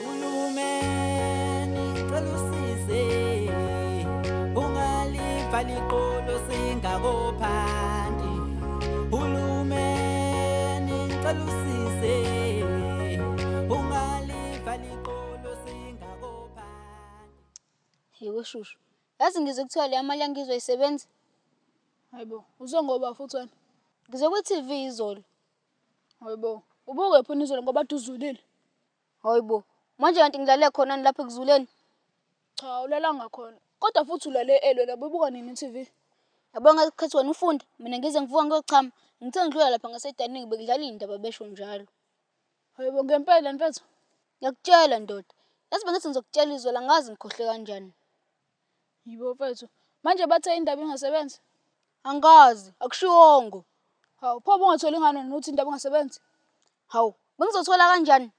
Hulumeni cela usize ungalivali iqolo singakophandi Hulumeni cela usize ungalivali iqolo singakophandi Yebo shushu. Yazi ngizwe kuthiwa leya mali yangizwa isebenza. Hayibo, uzwe ngoba futhi wena. Ngizwe kwi-TV izolo. Hayibo, ubukephi unizolo ngoba duzulile. Hhayi bo, manje kanti ngilale khonani lapha ekuzuleni? Cha awulalanga khona, kodwa futhi ulale early wena ububuka nini i-T_V? Yabo ngeke khethe wena ufunde, mina ngize ngivuke ngiyochama. Ngithe ngidlula lapha ngasediningi bekudlala iy'ndaba besho njalo. Hhayi bo ngempela mfethu? Ngiyakutshela ndoda, yazi bengithi ngizokutshela izolo angazi ngikhohlwe kanjani. Hhayi bo mfethu, manje bathe indaba ingasebenzi? Angikazi, akushiwongo. Hawu pho ubungatholi ngani wena uthi indaba ingasebenzi? Hawu, bengizothola kanjani?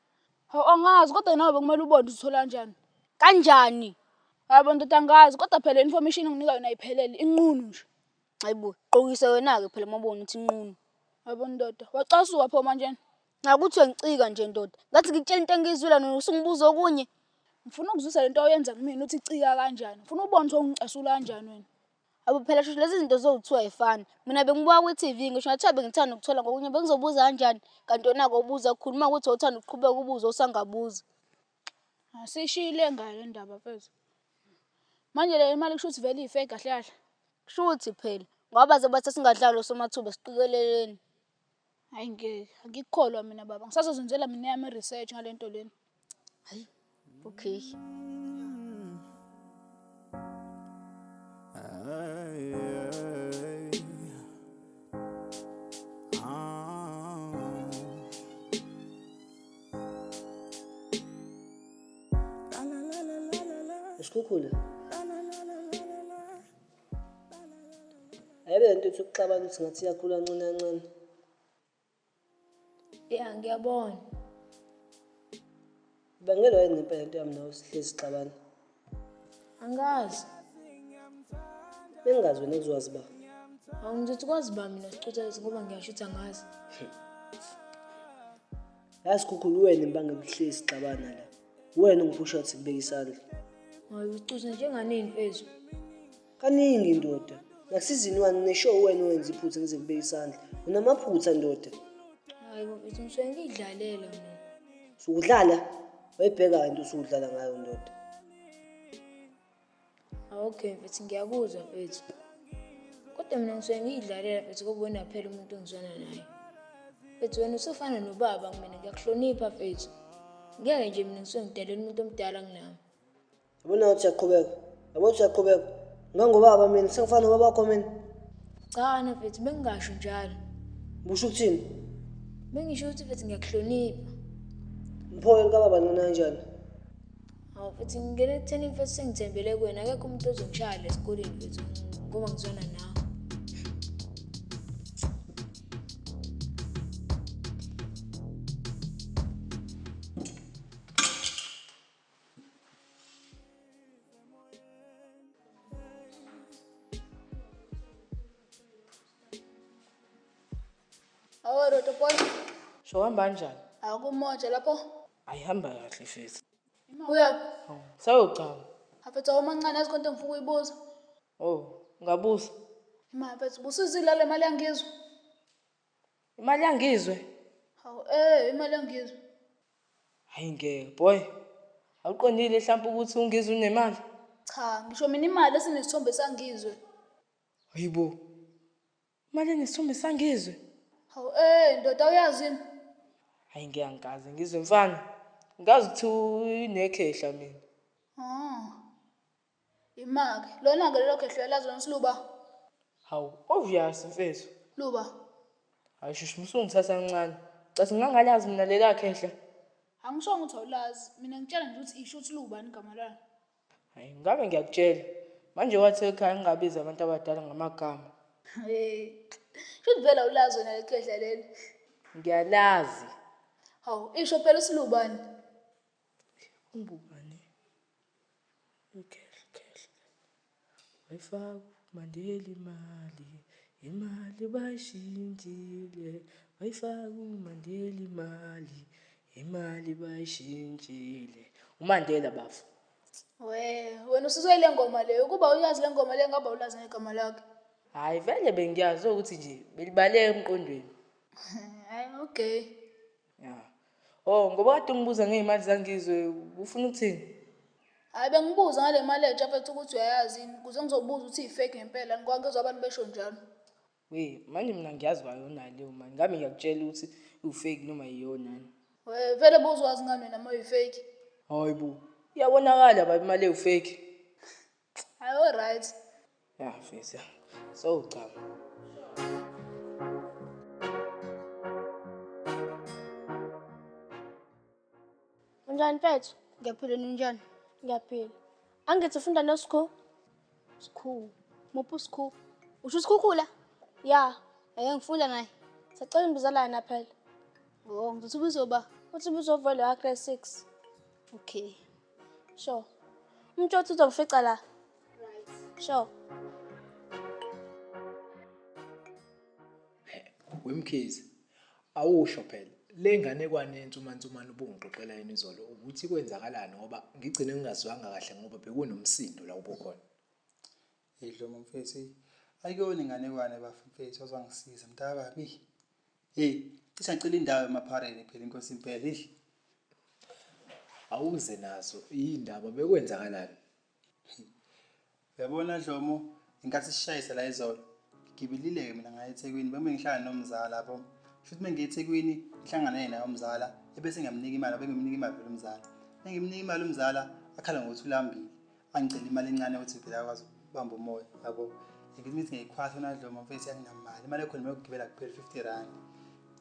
Hawu, angazi kodwa nawe bekumele ubone uzithola kanjani. Kanjani? Hayi bo ndoda angazi kodwa phela le information enginika yona ayiphelele, inqunu nje. Hhayi bo, qokise wena-ke phela uma ubona ukuthi inqunu. Hhayi bo ndoda, wacasuka pho manjena. Cha ukuthi uyangicika nje ndoda, ngathi ngikutshela into engiyizwile wena usungibuza okunye. Ngifuna ukuzwisa le nto oyenza kumina ukuthi icika kanjani, ngifuna ubone ukuthi wawungicasula kanjani wena. Awu phela shushu lezi zinto zokuthiwa ayifani. Mina bengibuka kwi-TV ngisho ngathiwa bengithanda ukuthola ngokunye bengizobuza kanjani kanti yona kobuza kukhuluma ukuthi uthanda ukuqhubeka ubuze usangabuzi. Asishiyile ngayo le ndaba mfethu. Manje le imali kusho ukuthi vele iyi-fake kahle kahle? Kushuthi phela ngoba baze bathi asingadlali osomathuba siqikeleleni. Hhayi ngeke, angikukholwa mina baba. Ngisazozenzela mina eyami i-research ngale nto lena. Hhayi, okay. Isikhukhula. Ayebe lento ethi ukuxabana ukuthi ngathi iyakhula ncane kancane. Ya ngiyabona. Ibangelwa yini ngempela into yami nawe sihlezi sixabana? Angazi. Bengazi wena kuzowazi ba. Hawu ngizothi kwazi ba mina sicuthelezi ngoba ngiyasho ukuthi angazi. Yazi khukhulu wena imbangela uhlezi sixabana la. Uwena ungiphusha ukuthi ngibeke isandla. Hayi ucuza njengani imfezo. Kaningi ndoda. Nakusizini wani nesho uwena owenza iphutha ngize ngibeke isandla. Unamaphutha ndoda. Hayi mfethu ngisuke ngidlalela mina. Sukudlala? Wayibheka into usudlala ngayo ndoda. Okay mfethu ngiyakuzwa mfethu. Kodwa mina ngisuke ngiyidlalela mfethu ngoba wena phela umuntu engizwana naye. Mfethu wena usufana nobaba kumina ngiyakuhlonipha mfethu. Ngeke nje mina ngisuke ngidelela umuntu omdala kunami. Yabona ukuthi uyaqhubeka. Yabona ukuthi uyaqhubeka. Ngangobaba mina sengifana nobaba wakho mina. Cha na mfethu bengingasho njalo. Busho ukuthini? Bengisho ukuthi mfethu ngiyakuhlonipha. Mphoyo likababa ncinanjani? Hawu futhi ngingena ekutheni mfethu sengithembele kuwena akekho umuntu ozongishaya la esikoleni mfethu ngoba ngizwana nawe. Awu Roto boy, Sho hamba kanjani? akumoja lapho. ayihamba kahle fesi Uyaphi? sayogcama Hafethu awumancane yazi konke engifuna ukuyibuza. o ngabusa Imali hafethu busizile le mali yangizwe. imali yangizwe Hawu eh imali yangizwe. hayi ngeke boy awuqondile mhlawumpe ukuthi ungizwe unemali Cha ngisho mina imali esinesithombe sangizwe. hayibo Manje nesithombe sangizwe. Hawu eh ndoda uyazi yini? Hayi ngeke angikaze ngizwe mfana. Ngazi ukuthi unekhehla mina. Ah. Imake. Lona ke lelo khehla elazi lona siluba. Hawu obvious mfethu. Luba. Hayi shush musungithatha kancane. Cathi ngangalazi mina lela khehla. Angishongo ukuthi awulazi. Mina ngitshela nje ukuthi isho ukuthi luba igama lalo. Hayi ngake ngiyakutshela. Manje wathi ekhaya ngingabizi abantu abadala ngamagama. Hey. Shuthi vele awulazi wena lekhehla leli. Ngiyalazi. Hawu, isho phela usilubani. Ungubani? Ikhehla. Wayifaka uMandela imali, imali bayishintshile. Wayifaka uMandela imali, imali bayishintshile. UMandela bafo. We, wena usizwe ile ngoma leyo. Ukuba uyazi le ngoma leyo ngabe awulazi negama lakhe. Hhayi vele bengiyazi ukuthi nje belibaleka emqondweni. Hhayi, okay. Yeah. Oh, ngoba kade ungibuza ngey'mali zangizwe, ufuna ukuthini? Hayi bengibuza ngale mali entsha mfethu ukuthi uyayazi yini kuze ngizobuza ukuthi i-fake ngempela ngikwangezwa abantu besho njalo. We, manje mina ngiyazi kwayona leyo mali. Ngami ngiyakutshela ukuthi u-fake noma yiyona. We, vele buzwazi ngani wena uma uyi-fake? Hayi bo, iyabonakala baba imali ewu-fake. Hayi o right. Ya fisa. So cha. Unjani mfethu? Ngiyaphila ninjani? Ngiyaphila. Angithi ufunda no school? School. Muphu school? Usho isikhukhula? Ya, ake ngifunda naye. Sacela imbizalana phela. Oh, ngizothi ubizoba. Uthi ubizovela wa grade 6. Okay. Sure. Umtshotsi uzongifica la. Right. Sure. Wemkhize. Awusho phela. Le nganekwane yensumansumana ubungixoxela yena izolo ukuthi kwenzakalani ngoba ngigcine ngingazwanga kahle ngoba bekunomsindo la ubukhona. Hey Dlomo mfethu hey ayikuyona inganekwane bafo mfethu wazwangisiza mntakababa ih hey cishe ngicela indawo emaphareni phela inkosi impela ih awuze nazo yindaba bekwenzakalani yabona Dlomo inkathi sishayisa la izolo ngigibelile ke mina ngaye eThekwini beme ngihlala nomzala lapho futhi mengiye eThekwini ngihlangana naye naye umzala ebese ngiyamnika imali bengimnika imali phela umzala bengimnika imali umzala akhala ngokuthi ulambile angicela imali encane ukuthi phela akwazi ukubamba umoya yabo ngibimithi ngiyikhwasa nadloma mfethu anginamali imali ekhona mina ukugibela kuphela 50 rand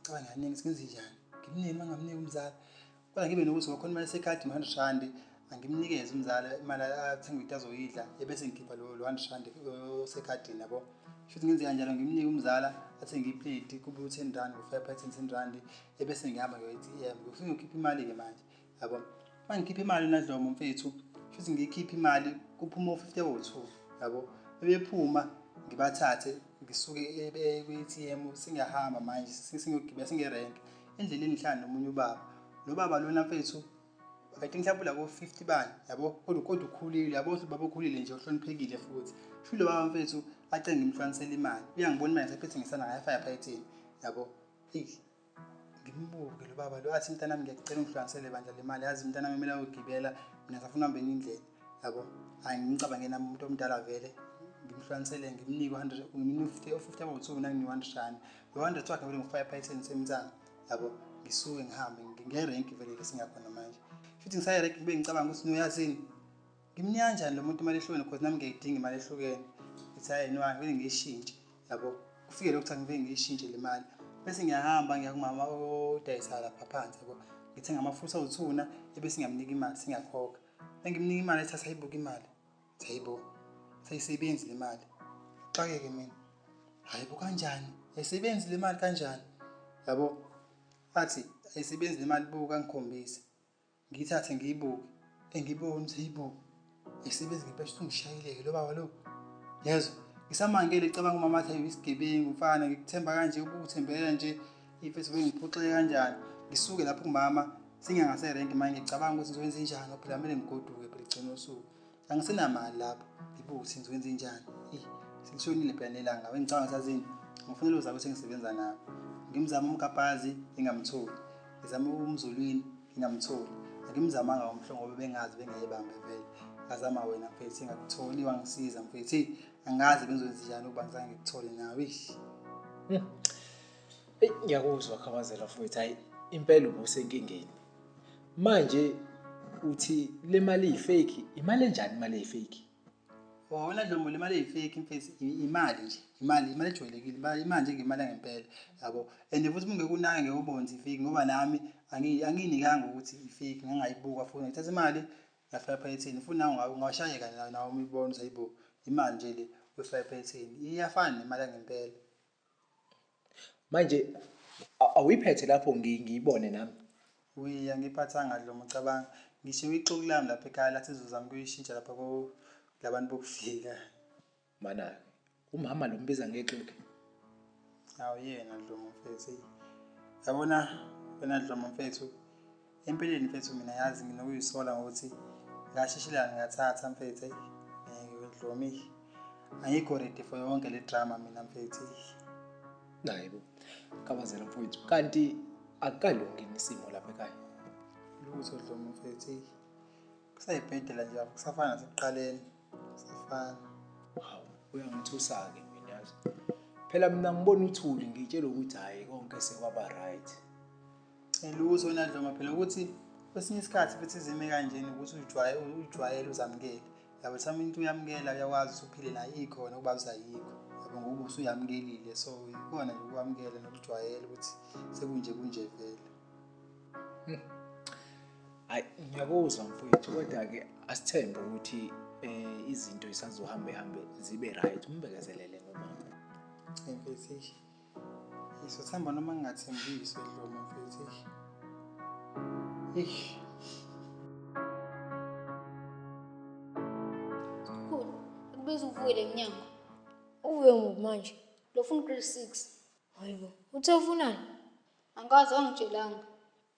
caba ngiyaningi singenze njani ngimnike uma ngamniki umzali kodwa ngibe nokuthi wakhona imali esekhadi 100 rand angimnikeze umzali imali athenga into azoyidla ebese ngikhipha lo 100 rand osekhadini yabo futhi ngenze kanjalo ngimnike umzala athenge iplate kube u-10 rand ngo-five pha 10 rand ebese ngihamba ngiyoyi-t m ngifike ngikhiphe imali-ke manje yabo uma ngikhipha imali unadlomo mfethu futhi ngiyikhiphe imali kuphuma u-fifty wo-two yabo bebephuma ngibathathe ngisuke e-, e-, kwi-atm singahamba manje singiyogibela singerenk endleleni ngihlala nomunye ubaba lo baba lona mfethu i think mhlawumbe labo 50 bani yabo kodwa kodwa ukhulile yabo ukuthi baba ukhulile nje uhloniphekile futhi sho lo baba mfethu acenge imhlwanisela imali uyangibona imali esephethe ngisana ngayo fire python yabo eyi ngimbuke lo baba lo athi mntanami ngiyacela ungihlukanisele bandla le mali yazi mntanami kumele ayogibela mina safuna uhambe enye indlela yabo hhayi ngimcabange nami umuntu omdala vele ngimhlukanisele ngimnike u-hundred ngimnike u-fifty abawuthiwu nanginika u-hundred rand lo hundred wakhe vele ngifaka ephayiseni semntango yabo ngisuke ngihambe ngiyerenki vele ke singakhona manje futhi ngisayerenki ngibe ngicabanga ukuthi noyazini Ngimnika kanjani lo muntu imali ehlukene because nami ngiyayidinga imali ehlukene ngithi hhayi no angivele ngiyishintshe yabo kufike lokhu ukuthi angivele ngiyishintshe le mali bese ngiyahamba ngiya kumama odayisa lapha phansi yabo ngithenga amafutha othuna ebese ngiyamnika imali singiyakhokha engimnika imali ethi asayibuka imali sayibo sayisebenzi le mali xakeke mina hhayi bo kanjani ayisebenzi le mali kanjani yabo athi ayisebenzi le mali buka ngikhombise ngiyithathe ngiyibuke engibona ukuthi heyibo esebenzi ngempela ukuthi ungishayeleke lo baba lo yezwa ngisamangele icabanga umama athi ayisigebengu mfana ngikuthemba kanje ukuthembela nje imfethu bengiphoxeke kanjani ngisuke lapho kumama singangaserenki manje ngicabanga ukuthi ngizokwenza njani phela kumele ngigoduke phela igcina usuku angisenamali lapho ngibuke ukuthi ngizokwenze njani eyi selishonile phela nelanga bengicabanga sazini ngifunela uzaba ukuthi engisebenza nabo ngimzama umkapazi ngingamtholi ngizama umzulwini ngingamtholi angimzamanga umhlo ngoba bengazi bengayebambe vele ngazama wena mfethi ngakutholi wangisiza mfethi angazi bengizowenza njani ukuba ngizange ngikuthole nawe ish hmm. eyi ngiyakuzwa khabazela mfowethu hhayi impela ubusenkingeni manje uthi le mali eyifake imali enjani imali eyifake wona dlomo le mali eyifake mfethu imali nje imali imali ejwayelekile imali imali nje ngemali yangempela yabo and futhi ungeke unake ngeke ubonze ifake ngoba nami angiyinikanga ukuthi ifake ngangayibuka futhi ngithatha imali ngafaka ephaketheni futhi nawe ungashayeka nawe uma uyibona ukuthi hayibo imali nje le uyifaka ephaketheni iyafana nemali yangempela Manje awuyiphethe lapho ngiyibone nami. We angiyiphathanga Dlomo cabanga. Ngishiwe ixuku lami lapha ekhaya lathi izozama kuyishintsha lapha ko labantu bokufika. Mana umama lo mbiza ngexuku. Awuyena Dlomo mfethu. Yabona wena Dlomo mfethu Empilweni mfethu mina yazi nginokuyisola ngokuthi ngashishilana ngathatha mfethu eyi ngeke wedlomi ayikho ready for yonke le drama mina mfethu naye bo kabazela mfowethu kanti akalungi isimo lapha ekhaya lutho dlomi mfethu kusayibhedela nje apho kusafana nasekuqaleni kusafana hawu uyangithusa-ke mina yazi phela mina ngibona uthuli ngitshela ukuthi hhayi konke sekwaba right Ngiluzo wena Dlonga phela ukuthi kwesinye isikhathi futhi izime kanjena ukuthi ujwaye ujwayele uzamukele. Yabo some into uyamukela uyakwazi usuphile nayo ikhona ukuba usayikho. Yabo ngoba usuyamukelile so ikona nje ukwamukela nokujwayela ukuthi sekunje kunje vele. Hayi ngiyakuzwa mfowethu kodwa ke asithembe ukuthi eh izinto isazohambe hambe zibe right umbekezelele ngomama. Ngempela Ngizothemba noma ngingathembisi Dlomo mfethu. Eish. Khulu, akubiza uvule emnyango. Uvuke ngoku manje. Lofuna ugrade 6. Hayibo, uthe ufunani? Angikaze wangitshelanga.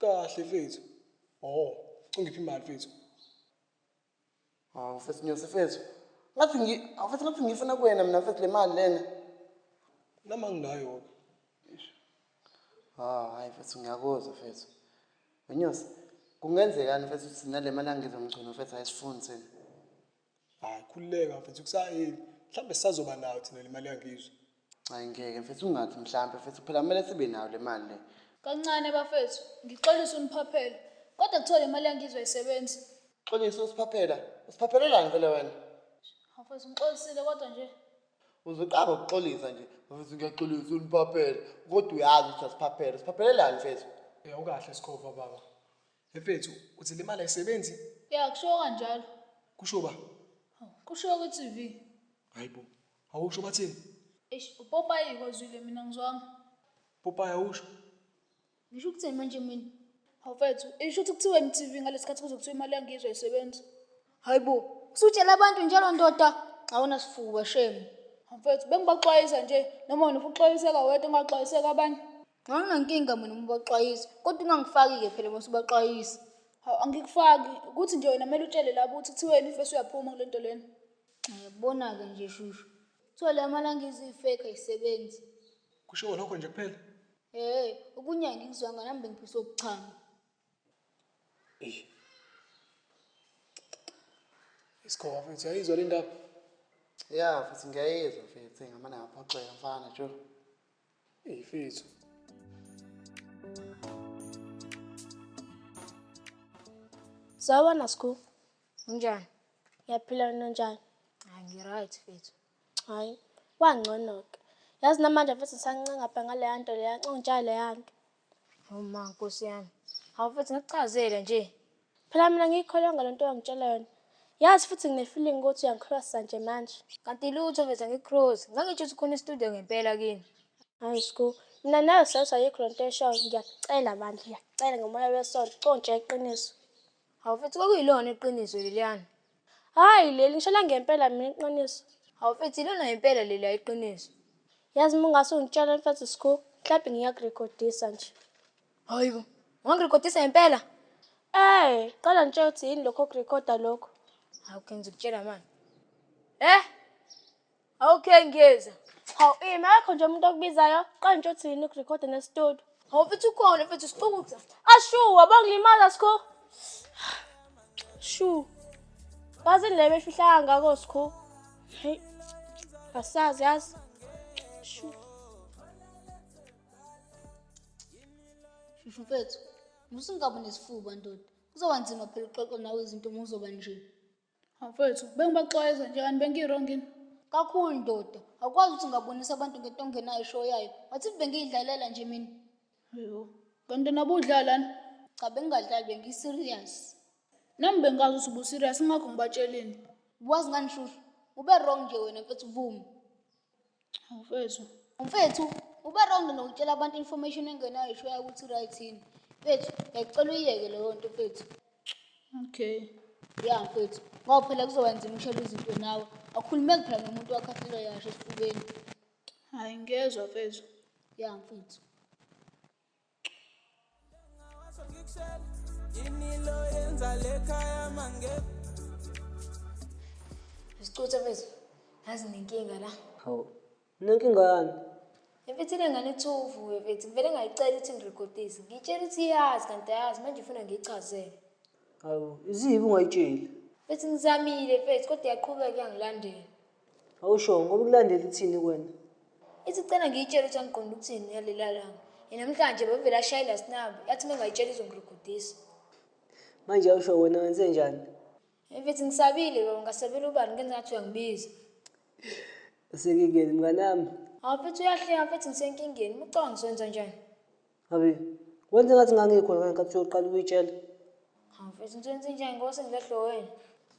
Kahle mfethu. Oh, ucingiphi imali mfethu? Hawu mfethu Nyosi mfethu. Ngathi ngi awu mfethu ngathi ngiyifuna kuwena mina mfethu le mali lena. Nami anginayo-ke. Ah, hayi mfethu ngiyakuzwa mfethu. Wenyosi, kungenzekani mfethu ukuthi thina le mali angizomgcina mfethu ayisifuni thina. Hayi khululeka mfethu kusayini. Mhlambe sisazoba nayo thina lemali yangizwe. Hayi ngeke mfethu ungathi mhlambe mfethu phela kumele sibe nayo lemali le. Kancane bafethu ngixolise uniphaphela kodwa kuthiwa lemali yangizwe ayisebenzi. Xolisa usiphaphela. Usiphaphelelani phela wena? Hawu mfethu ngixolisile kodwa nje. Uze uqabe ukuxolisa nje. Mfethu ngiyaxolisa uniphaphela. Kodwa uyazi ukuthi asiphaphele. Usiphaphelelani mfethu? Ukahle Skhova baba. Mfethu, uthi le mali ayisebenzi? Ya kushiwo kanjalo. Kusho ba? Hawu, Kushiwo ku TV. Hayibo. Awusho bathini? Eish upopayi kozwile mina ngizwanga. Popeye awusho. Ngisho ukuthini manje mina? Hawu mfethu, isho ukuthi kuthiwa MTV ngalesikhathi kuzokuthiwa imali yangizwe ayisebenzi. Hayibo, usutshela abantu njalo ndoda. Awuna sifuba shame. Hawu mfethu, bengibaxwayisa nje noma wena ufuxwayiseka wedwa ungaxwayiseka abanye. Nxa unenkinga mina uma ubaxwayisa, kodwa ungangifaki-ke phela uma usubaxwayisa. Hawu angikufaki, ukuthi nje wena kumele utshele labo ukuthi kuthiwa yena imfesi uyaphuma kule nto lena. Yabona-ke nje shushu, kuthiwa la malanga iziyifeki ayisebenzi. Kushiwo lokho nje kuphela? Hhe, okunye angikuzwanga nami bengiphiswa ubuchama. Eish. Isikhova mfethu yayizwa le ndaba. Ya futhi ngiyayizwa mfethu ngamane ngaphoxeka mfana jo. Ey mfethu. Sawubona Skhulu. Unjani? Ngiyaphila mina unjani? Hayi ngi-right mfethu. Hhayi, kwangcono-ke. Yazi namanje mfethu ngisanqengapha ngaleya nto leya, ncontsha leya nto. Hawu ma, Nkosi yami. Hawu mfethu ngikuchazele nje. Phela mina ngiyikholwanga le nto owangitshela yona. Yazi futhi ngine-feeling ukuthi uyangikhrwasa nje manje. Kanti lutho mfethu angikukhrozi. Ngangitsho ukuthi khona i-studio ngempela kini. Hayi sgu, mina nawe sayothi ayikho le nto oyishoyo. Ngiyakucela bandla, ngiyakucela ngomoya wesonto, contsha iqiniso. Hawu mfethu kwakuyilona iqiniso leliyana. Hayi leli ngisho langempela mina iqiniso. Hawu mfethu ilona impela leli ayiqiniso. Yazi uma ungase ungitshele mfethu school, mhlawumbe ngiyakurekhodisa nje. Hayi bo, wangirekhodisa ngempela? Eh, qala ngitshela ukuthi yini lokho okurekhoda lokho. Hawu ke ngizokutshela manje. Eh! Okay ngiyeza. Hawu ima akho nje umuntu okubizayo qanje uthini ukurecord nestudio. Hawu mfethu ukhona mfethu sixukuza. Ashu wabangilimaza sikho. Shu. Bazi le befihlanga ngako sikho. Hey. Asazi yazi. Shu. Shushu mfethu, musingabi nesifuba ndoda. Kuzoba nzima phela uxoxa nawe izinto uma uzoba nje. Mfowethu, bengibaxwayeza nje kanti bengiwrong yini? Kakhulu ndoda, awukwazi ukuthi ngabonisa abantu ngento ongenayo eshoyayo. What if bengiyidlalela nje mina? Yho, kanti nabe udlalani? Cha bengingadlali bengi-serious. Nami bengazi ukuthi ubu-serious ingakho ngibatshelile. Wazi ngani shushu? Ube wrong nje wena mfethu vuma. Mfethu, mfethu uba wrong nokutshela abantu information engenayo ishoya ukuthi right yini. Mfethu, ngiyacela uyiyeke leyo nto mfethu. Okay. Ya mfethu, ngoba phela kuzoba nzima ushela izinto nawe. Akhulumeki phela nomuntu wakhathela yasho esifubeni. Hayi ngiyezwa mfethu. Ya mfethu. Sicutha mfethu. Ngazi nenkinga la. Hawu. Nenkinga yani? Mfethu le ngane ethuvu mfethu. Ngivele ngayicela ukuthi ngirekodise. Ngitshela ukuthi iyazi kanti ayazi manje ufuna ngiyichazele. Hawu, izibi ungayitsheli. Mfethu ngizamile mfethu kodwa iyaqhubeka iyangilandela. Hawu sho, ngoba ukulandela uthini kwena? Ithi cela ngiyitshele ukuthi angiqondi ukuthini ngalelia langa. Yenamhlanje bevele ashaye last number, yathi uma ngayitshela izongirugudisa. Manje hawu sho, wena wenze njani? Mfethu ngisabile baba, ngasabela ubani ngenza ngathi uyangibiza. Usekingeni mnganami. Hawu mfethu uyahleka mfethu ngisenkingeni, uma ucabanga ngizokwenza njani? Abi, wenze ngathi ngangikhona ngale nkathi uyoqala ukuyitshela. Hawu mfethu ngithi wenze njani ngoba sengilahlwe wena.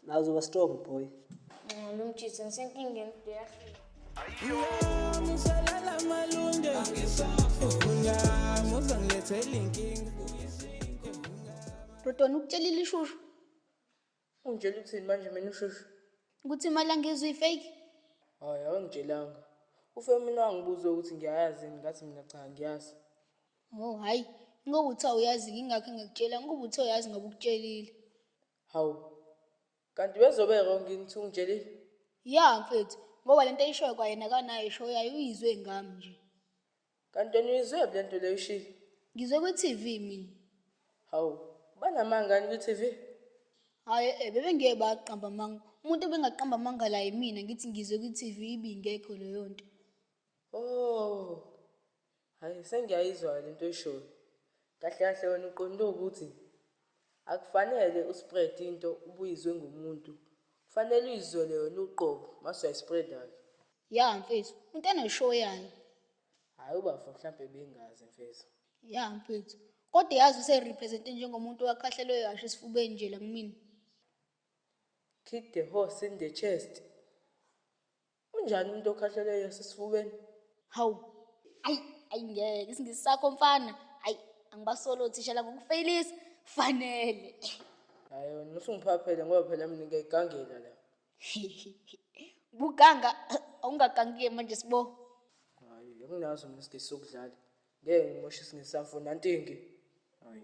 Nawe uzoba strong boy. Nxa lo mjitha ngisenkingeni udeyahlula. Ngiyamusalela malunge Ungamuza ngilethela inkinga Dodona ukutshelile ishushu. Ungitshela ukuthini manje mina ushushu? Ukuthi imali angizwe ifake? Hayi awangitshelanga. Ufe mina wangibuza ukuthi ngiyayazi yini ngathi mina cha ngiyazi. Oh hayi, ngoba uthe awuyazi ngingakho ngikutshela ngoba uthe uyazi ngoba ukutshelile. Hawu. Kanti bezobe wrong yini ukuthi ungitshelile? Ya mfethu, ngoba lento ayishoyo kwayena akanayo ishoyo yayo uyizwe ngami nje. Kanti wena uyizwephi le nto le ushilo? Ngizwe kwi-TV mina. Hawu, banamanga yini kwi-TV? Hhayi e-e, bebengeke baqamba amanga. Umuntu obengaqamba amanga la yimina, ngithi ngizwe kwi-TV ibingekho leyo nto. Oh, hhayi sengiyayizwa-ke le nto oyishoyo. Kahle kahle wena uqonde ukuthi Akufanele u spread into ubuyizwe ngumuntu kufanele uyizwele wena uqobo mase uyayi spreader ke. Yeah mfethu umuntu ene show yayo. Hayi ubafo mhlampe bengazi mfethu. Yeah mfethu. Kodwa yazi use represente njengomuntu owakhahlelwe kahle esifubeni nje la kumina. Kick the horse in the chest. Unjani umuntu okhahleleyo esesifubeni? Hawu. Ayi, ayi ngeke isingisi sakho mfana. Ayi, angibasolo othisha la ngokufeyilisa. Fanele. Hayi wena usungiphaphele ngoba phela mina ngiyayigangela la. Ubuganga awungagangi-ke manje sibo. Hayi, anginazo mina isigisi sokudlala. Ngeke ngimoshe isingisi samfo nantingi. Hayi.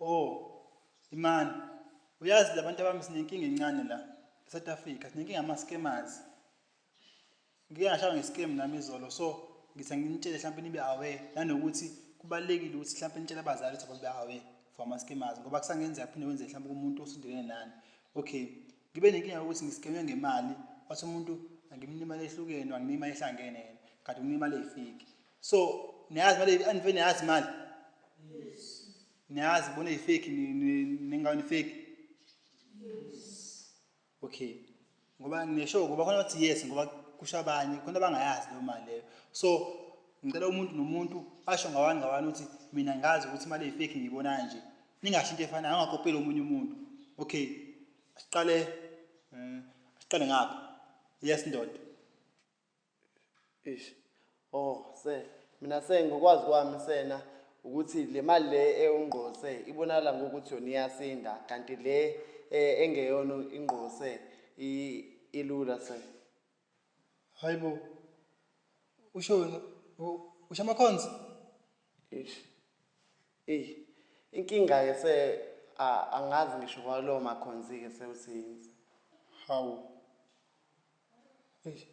Oh, Imani, uyazi labantu abami sinenkinga encane la eSouth Africa, sinenkinga ama scammers. Ngike ngashawa nge-scam nami izolo so ngithi anginitshele mhlawumbe nibe aware nanokuthi kubalulekile ukuthi mhlawumbe nitshele abazali ukuthi ababe aware for ama scammers ngoba kusangenzeka kuphinde kwenze mhlawumbe kumuntu osondelene nani. Okay, ngibe nenkinga yokuthi ngi-scam-we ngemali, wathi umuntu angimnike imali ehlukene, wanginika imali ehlangene yena kanti unginika imali eyifiki. so niyazi mali anive niyazi mali niyazi bona ifake ningayo nifake okay ngoba nesho ngoba khona bathi yes ngoba kusho abanye khona abangayazi leyo mali leyo so ngicela umuntu nomuntu asho ngawani ngawani ukuthi mina ngazi ukuthi imali eyifake ngiyibona kanje ningasho into efanayo angakopeli omunye umuntu okay siqale um siqale ngapha yes ndoda Eish. Oh, sir. Mina sir ngokwazi kwami sena ukuthi le mali le ewungqose ibonakala ngokuthi yona iyasinda kanti le eh, engeyona ingqose i- ilula sir. Hayi bo. Usho wena u- usho amakhonzi? Eish. Ey. Inkinga ke se a- angazi ngisho kwalowo makhonzi ke sewuthini. Hawu. Eish.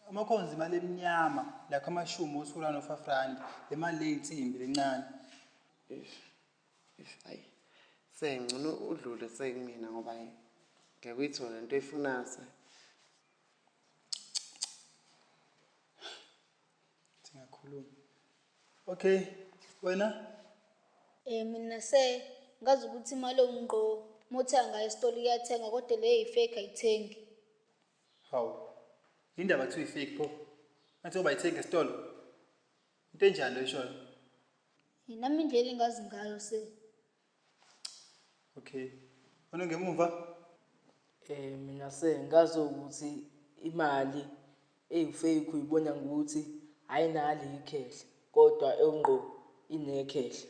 Amakhonzi imali emnyama lakho amashumi osula no five rand le mali le insimbi lencane. Eish. Eish ayi. Se ngcono udlule sekumina ngoba ayi. Ngeke uyithole into oyifunayo se. Singakhuluma. Okay, wena? Eh mina se ngazi ukuthi imali ewumqoka. Mothenga ngayo esitolo iyathenga kodwa le eyi fake ayithengi. Hawu. Indaba kuthiwa ifake pho. Ngathi obayithenga esitolo. Into enjani loyishoyo? Hey, nami indlela engazi ngayo se. Okay. Wena ngemuva? Eh mina se ngazi ukuthi imali eyifake uyibona ngokuthi ayinalo ikhehle kodwa engqo inekhehla.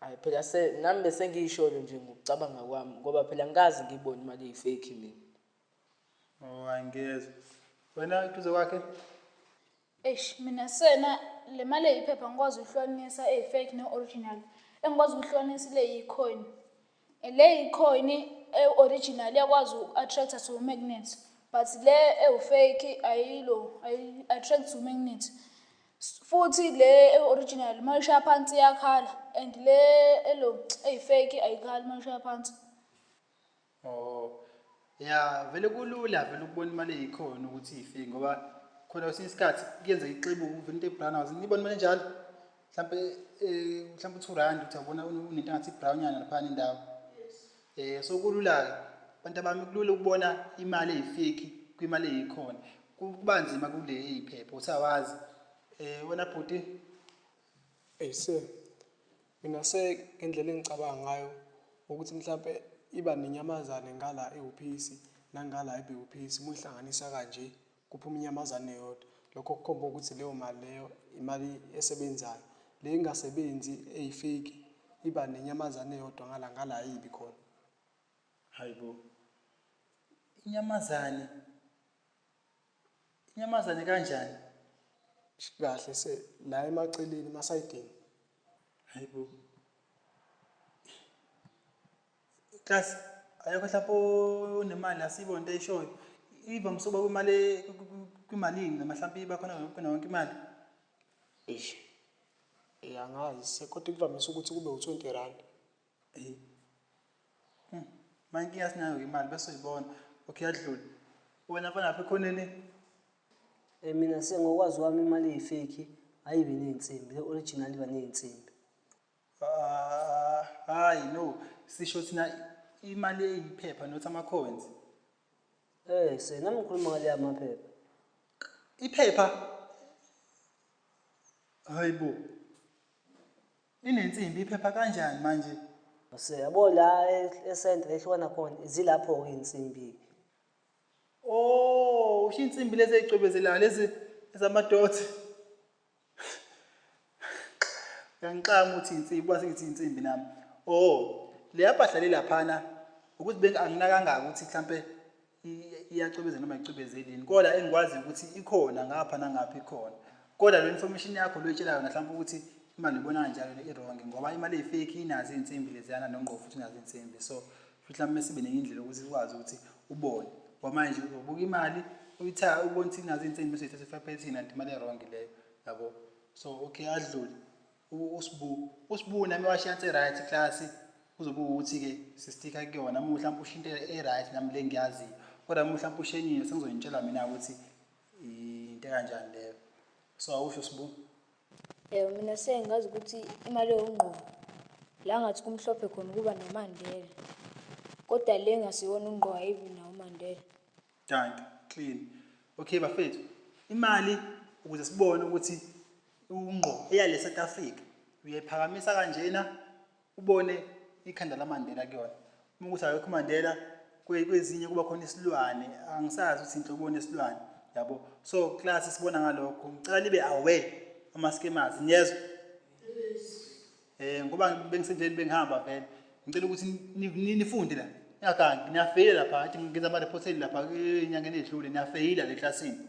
Hayi phela se nami bese ngiyisholo nje ngokucabanga kwami ngoba phela ngikazi ngibone imali eyifake mina. Oh angiyezwa. Wena duze kwakhe? Eish mina sena le mali eyiphepha ngikwazi ukuhlukanisa eyi-fake ne-original engikwazi ukuhlukanisa ile yi-coin Le yicoin e-original iyakwazi uku-attractor to magnet but le ewu-fake ayilo ayi-attract to magnet futhi le e-original uma ishaya phansi iyakhala and le elo eyi-fake ayikhali uma ishaya phansi. Oh. Ya vele kulula vele ukubona imali eyikhona ukuthi ife ngoba khona kwesinye isikhathi kuyenzeka ixebuka uvele into ebrown wazi nibona imali enjalo mhlampe eh mhlampe u2 rand uthi yabona unento ngathi brown yana lapha indawo eh so kulula ke abantu abami kulula ukubona imali eyifiki kwimali eyikhona kuba nzima kule eyiphepha usawazi eh wena bhuti Ese Nginase ngendlela engicabanga ngayo ukuthi mhlampe iba nenyamazane ngala ewuphisi nangala ebewuphisi uma uyihlanganisa kanje kuphuma inyamazane eyodwa. Lokho kukhomba ukuthi leyo mali leyo imali esebenzayo. Le engasebenzi eyi-fake iba nenyamazane eyodwa ngala ngala ayibi khona. Hhayi bo, inyamazane. Inyamazane kanjani? Kahle se la emaceleni emasayidini. Hayibo. Class ayokho hlapho unemali asibo into eshoyo. Iva msoba kwimali kwimalini namahlampi bakhona ngempela wonke imali. Eish. Eyangazi sekodwa kuvamise ukuthi kube u20 rand. Hey. Hmm. Manje inkinga sinayo imali bese uyibona. Okay yadlula. Wena mfana lapha ekhoneni. Eh mina sengokwazi wami imali eyifake ayibe nezinsimbi, le original iba nezinsimbi. Ah, hayi no. Sisho thina imali eyiphepha not ama coins. Eh se nami ngikhuluma ngale yamaphepha. Iphepha. Hayibo. Inensimbi iphepha kanjani manje? Use yabo la esentre ehlukana khona zilapho ke insimbi. Oh, usho insimbi lezi ezicwebezelayo lezi ezamadoti. Uyangixama uthi insimbi, kwase ngithi insimbi nami. Oh, leya mpahla le laphana ukuthi benginakangaka ukuthi mhlampe iyacwebeza noma icwebezeli yini kodwa engikwazi ukuthi ikhona ngapha nangapha ikhona kodwa le information yakho loyitshela yona mhlawumbe ukuthi imali ibona kanjalo le irong ngoba imali eyifeki inazo iy'nsimbi leziyana nongqo futhi inazo iy'nsimbi so futhi mhlawumbe sibe nenye indlela ukuthi sikwazi ukuthi ubone ngoba manje ubuka imali uyithayo ubona ukuthi inazo iy'nsimbi bese uyithatha ifapethini anti imali erong leyo yabo so okay adlule uSbu uSbu nami washiyansa e-right class kuzobe ukuthi-ke sistika kuyona uma mhlawumpe ushinto e-right nami le ngiyaziyo kodwa uma mhlawumpe ushenyile sengizoyintshela mina ukuthi into ekanjani leyo so awusho sibu um mina sengazi ukuthi imali yongqobo la ngathi kumhlophe khona ukuba nomandela kodwa le ngasiwona ungqobo ayibi nawo umandela danki clean okay bafethu imali ukuze sibone ukuthi Ungqo eya le South Africa uyayiphakamisa kanjena ubone ikhanda laMandela kuyona uma ukuthi akekho uMandela kwezinye kuba khona isilwane angisazi ukuthi into ubona isilwane yabo so class sibona ngalokho ngicela libe aware ama scammers niyezwa eh ngoba bengisendleni bengihamba vele ngicela ukuthi nifunde la ngiyagangi niyafeyila lapha athi ngenza ama report lapha enyangeni edlule niyafeyila le classini